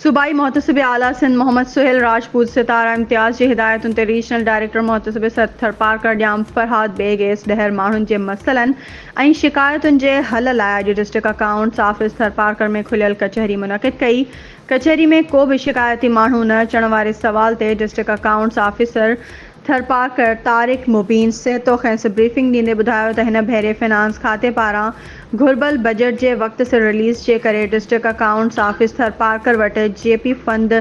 صوبائي محتسب اعليٰ سنڌ محمد سهيل راجپوت، ستاره امتياز جي هدايتن تي ريجنل ڊائريڪٽر محتسب سرت ٿرپارڪر ڄام فرهاد بيگ ايس ڏهر ماڻهن جي مسئلن ۽ شڪايتن جي حل لاء اڄ ڊسٽرڪٽ اڪائونٽس آفيس ٿرپارڪر ۾ کليل ڪچهري منعقد ڪئي ڪچهري ۾ ڪو به شڪايتي ماڻهو نه اچڻ واري سوال تي district accounts officer Tharparkar Tariq Mubeen Sahto کيس بريفنگ ڏيندي ٻڌايو ته هن ڀيري فنانس کاتي پاران گهربل بجيٽ جي وقت سر رليز جي ڪري ڊسٽرڪٽ اڪائونٽس آفيس ٿرپارڪر وٽ جي پي فند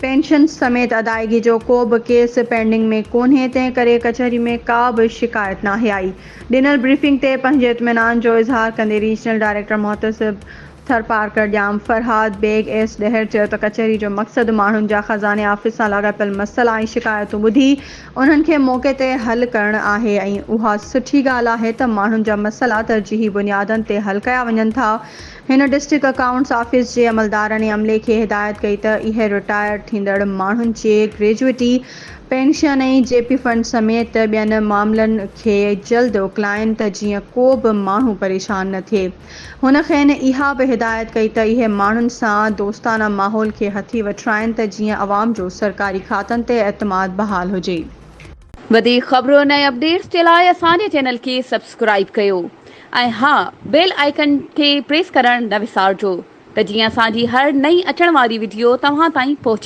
پينشنز سميت ادائيگي جو ڪو به ڪيس پينڊنگ ۾ ڪونهي تنهن ڪري ڪچهري ۾ ڪا به شڪايت ناهي آئي ڏنل بريفنگ تي پنهنجي اطمينان جو اظهار ڪندي ريجنل ڊائريڪٽر محتسب ٿرپارڪر ڄام فرهاد بيگ ايس ڏهر چيو ته ڪچهري جو مقصد ماڻهن جا خزاني آفيس سان لاڳاپيل مسئلا ۽ شڪايتون ٻڌي انهن کي موقعي تي حل ڪرڻ آهي ۽ اها سٺي ڳالهه آهي ته ماڻهن جا مسئلا ترجيحي بنيادن تي حل ڪيا وڃن ٿا هن ڊسٽرڪٽ اڪائونٽس آفيس جي عملدارن ۽ عملي کي هدايت ڪئي ته اهي رٽائر ٿيندڙ ماڻهن جي gratuity pension ۽ G P fund سميت ٻين معاملن کي جلد اڪلائين ته جيئن ڪو به ماڻهو پريشان نه ٿئي. هن کين اها به هدايت ڪئي ته اهي ماڻهن سان دوستانه ماحول کي هٿي وٺرائين ته جيئن عوام جو سرڪاري کاتن تي اعتماد بحال هجي. وڌيڪ خبرن ۽ اپڊيٽس جي لاء اسان جي چينل کي سبسڪرائيب ڪيو ۽ ها بيل آئيڪن کي پريس ڪرڻ نه وسارجو ته جيئن اسان جي هر نئين اچڻ واري وڊيو توهان تائين پهچي.